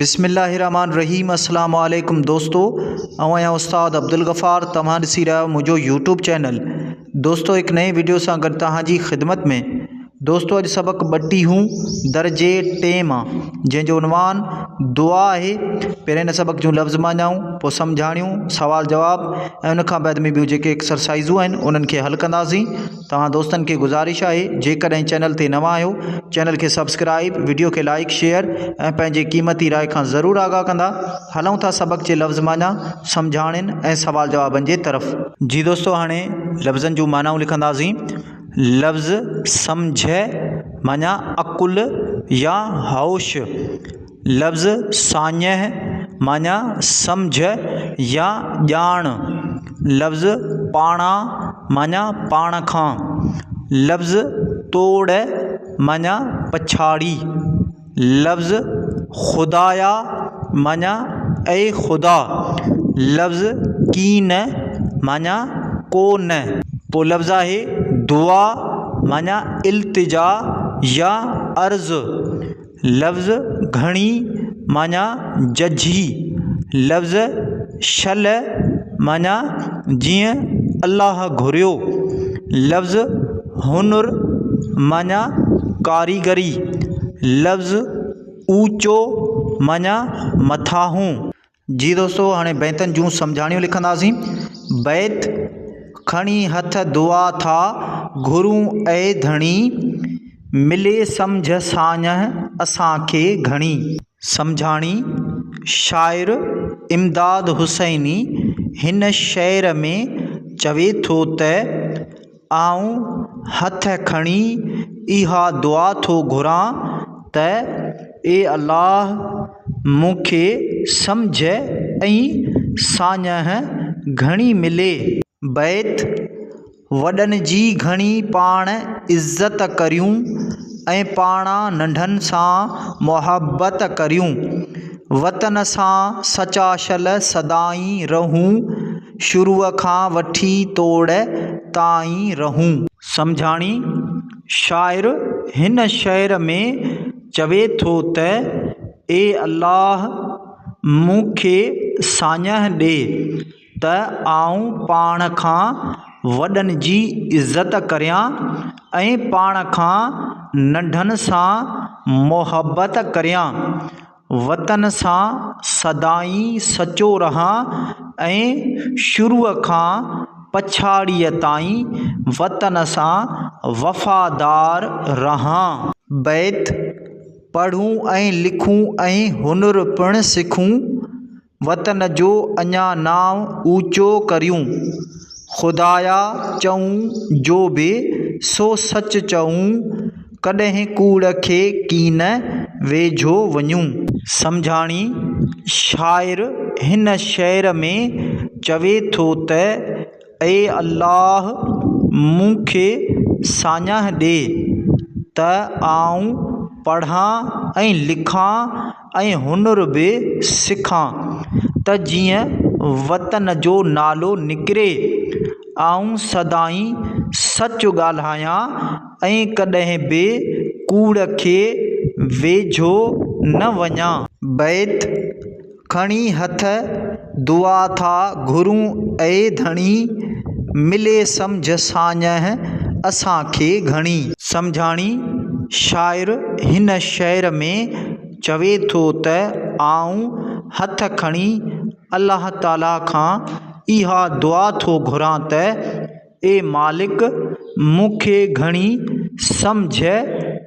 بسم الله الرحمٰن الرحيم السلام عليڪم دوستو آئون آهيان استاد عبدالغفار توهان ڏسي رهيا آهيو منهنجو يوٽيوب چينل دوستو هڪ نئين وڊيو سان گڏ توهان جي خدمت ۾ دوستو اڄ سبق ٻٽيهون درجي ٽي مان جنهن جو عنوان دعا آهي پهرين هن سبق جون لفظ ماڃائون پوء سمجهاڻيون سوال جواب ۽ ان کان بعد ۾ ٻيون جيڪي ايڪسرسائزون آهن انهن کي حل ڪنداسين توهان دوستن کي گذارش آهي جيڪڏهن چينل تي نوان آهيو چينل کي سبسڪرائب وڊيو کي لائڪ شيئر ۽ پنهنجي قيمتي راء کان ضرور آگاهه ڪندا هلون ٿا سبق جي لفظ معنيٰ سمجهاڻين ۽ سوال جوابن جي طرف. جي دوستو هاڻي لفظن جون معنائون لکنداسين لفظ سمجهه معنيٰ عقل يا هوش. لفظ ساڃهه معني سمجهه يا ڄاڻ، لفظ پاڻان معني پاڻ کان، لفظ توڙ معني پڇاڙي، لفظ خدايا معني اي خدا، لفظ ڪين معني ڪو نه. پوء لفظ آهي دعا معني التجا يا عرض، لفظ گهڻي معنيٰ ججهي، لفظ شل معنيٰ جيئن الله گهريو، لفظ هنر معنيٰ ڪاريگري، لفظ اوچو معنيٰ مٿاهون، جي دوستو هاڻي بيتن جون سمجهاڻيون لکنداسين. بيت، کڻي هٿ دعا ٿا گهرون اي ڌڻي، ملي سمجهه ساڃهه اسان کي گهڻي. سمجهاڻي، شاعر امداد حسيني هن شعر ۾ چوي ٿو ته. آئون هٿ کڻي اها دعا ٿو گهران ته اي الله مون کي سمجهه ۽ ساڃهه گهڻي ملي. بيت، وڏن جي گهڻي پاڻ عزت ڪريون ۽ پاڻان ننڍن سان محبت ڪريون. وطن سان سچاشل سدائين رهون. شروع کان وٺي توڙ تائين رهون. سمجهاڻي، شاعر هن شعر ۾ چوي ٿو ته، اي الله! مون کي ساڃهه ڏي ته آئون پاڻ کان وڏن جي عزت ڪريان ۽ پاڻ کان ننڍن سان محبت ڪريان. وطن سان سدائين سچو رهان ۽ شروع کان پڇاڙيء تائين وطن سان وفادار رهان. بيت، پڙهون ۽ لکون ۽ هنر پڻ سکون، وطن جو اڃا نانء اوچو ڪريون. خدايا چئون جو به سو سچ چئون، ڪڏهن ڪوڙ کي ڪين ويجهو وڃون. سمجهاڻي، شاعر هن شعر ۾ چوي ٿو ته اي الله! مون کي ساڃاهه ڏي ته آئون پڙهان ۽ لکان، ۽ هنر به سکان ته جيئن وطن جو نالو نڪري. آئون سدائين سچ ڳالهايان ۽ ڪڏهن به ڪوڙ کي ويجهو نه وڃان. بيت، کڻي هٿ دعا ٿا گهرون اي ڌڻي، ملي سمجهه ساڃهه اسان کي گهڻي. سمجهاڻي، شاعر هن شعر ۾ چوي ٿو ته آئون هٿ کڻي الله تعاليٰ کان اها دعا ٿو گهران ته، اي مالڪ! مون کي گهڻي سمجهه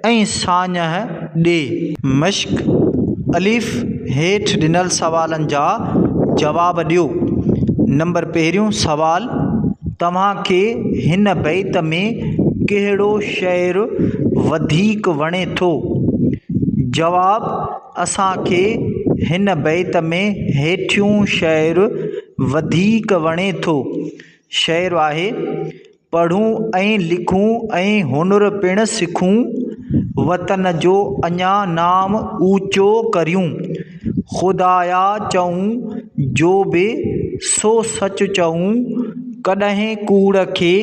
۽ ساڃهه ڏي. مشق، الف، هيٺ ڏنل سوالن جا جواب ڏيو. نمبر پهريون سوال، توهان کي هن بيت ۾ ڪهڙو شعر وڌيڪ وڻي ٿو؟ جواب، اسان کي هن بيت ۾ هيٺيون شعر وڌيڪ وڻي ٿو. شعر آهي، پڙهون ۽ لکون ۽ هنر پڻ سکون، وطن جو اڃا نام اوچو ڪريون، خدايا چئون جو به سو سچ چئون، ڪڏهن ڪوڙ کي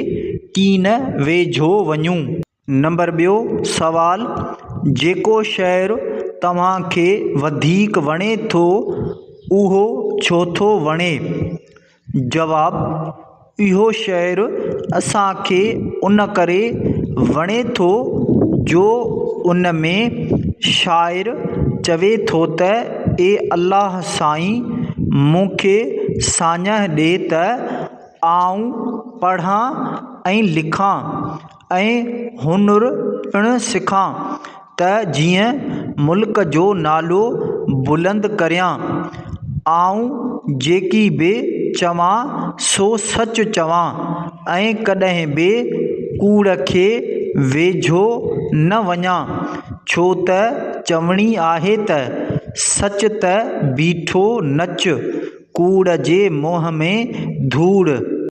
ڪين ويجهو وڃون. نمبر ٻيو سوال، جيڪو شعر توهان کي وڌيڪ وڻي ٿو اهو ڇو ٿو وڻي؟ جواب، اهو شعر اسانکي ان ڪري وڻي ٿو جو ان ۾ شاعر چوي ٿو ته اي الله سائين مون کي ساڃهه ڏي ته آئون پڙهان ۽ لکان ۽ هنر پڻ سکان ته جيئن ملڪ جو نالو بلند ڪريان. آئون جيڪي به چوان سو سچ چوان ۽ ڪڏهن به ڪوڙ کي ويجهو نه وڃان ڇو ته چوڻي آهي ته سچ ته بيٺو نچ ڪوڙ جي منهن ۾ ڌوڙ.